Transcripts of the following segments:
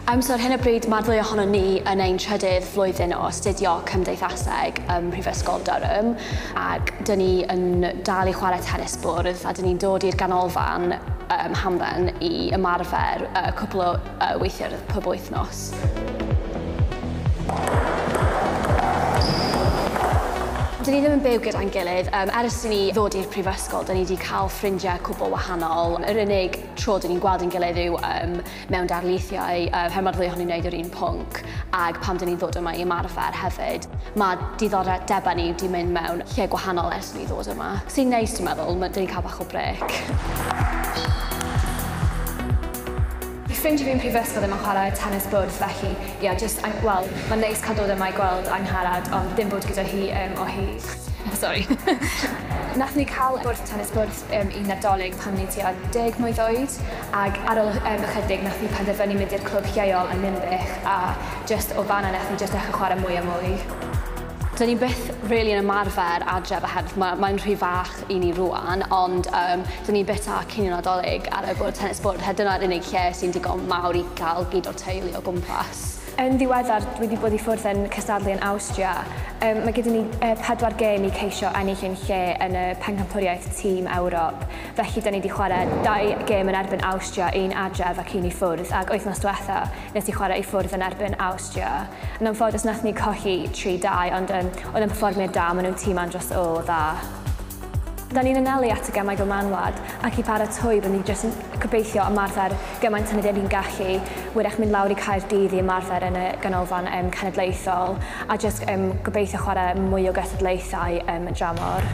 Um, so ar hyn o bryd mae'r ddwy ohono ni yn ein trydydd flwyddyn o astudio cymdeithaseg ym Mhrifysgol Durham ac dyn ni yn dal i chwarae tennis bwrdd a dyn ni'n dod i'r ganolfan um, hamdden i ymarfer uh, cwpl o uh, weithiau pob wythnos. Dyn ni ddim yn byw gyda'n gilydd. Um, ers i ni ddod i'r prifysgol, dyn ni wedi cael ffrindiau cwbl wahanol. Yr unig tro dyn ni'n gweld yn gilydd yw um, mewn darlithiau, uh, pan mae'r ddwy ohonyn wneud yr un pwnc, ac pan dyn ni'n ddod yma i ymarfer hefyd. Mae diddordebau ni wedi mynd mewn lle gwahanol ers ni ddod yma. Sy'n neis, dwi'n meddwl, dyn ni'n cael bach o brec. Fy ffrindiau fi yn prifysgol ddim yn chwarae tenis bwrdd felly ie jyst I'm wel mae'n neis cael dod yma i gweld Angharad ond ddim bod gyda hi yym o hyd. Sori. Nathon ni cael bwrdd tenis bwrdd yym un Nadolig pan o'n i tua deg mlwydd oed ag ar ol yym ychydig nathon ni penderfynu mynd i'r clwb lleol yn Ninbych a jyst o fan'na nathon ni jyst dechre chwarae mwy a mwy. Dyn ni byth rili yn ymarfer adref oherwydd ma' mae'n rhy fach i ni rwan, ond um, dyn ni byta cinio nadolig ar y bwrdd tennis bwrdd, her dyna'r unig lle sy'n digon mawr i gael gyd o'r teulu o gwmpas. Yn ddiweddar, dwi wedi bod i ffwrdd yn cystadlu yn Awstria. Um, mae gyda ni uh, pedwar gêm i ceisio ennill ein lle yn y pencampwriaeth tîm Ewrop. Felly, da ni wedi chwarae dau gêm yn erbyn Awstria, un adref ac un i ffwrdd, ac wythnos diwetha, nes i chwarae i ffwrdd yn erbyn Awstria. Austria. Yn anffodus nathon ni colli tri dau ond yym oedd yn perfformiad da maen nhw'n tîm andros o dda. Da ni'n anelu at y gemau fel manwlad ac i baratoi rydyn ni jyst yn gobeithio ymarfer gymaint â rydyn ni'n gallu wyrach mynd lawr i Caerdydd i ymarfer yn y ganolfan yym cenedlaethol a jyst yym gobeithio chwarae mwy o gystadlaethau yym y dramor.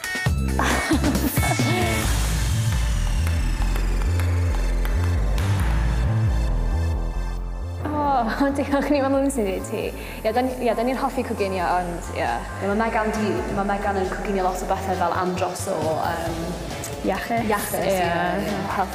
O, diolch, ni mae Mumsy i ti. Ie, da ni- ie, da ni'n hoffi coginio, ond ie. Ie, mae Megan di, mae Megan yn coginio lot o bethau fel am dros o, yym... Iachus? Iachus, ie. Ie, ie. Health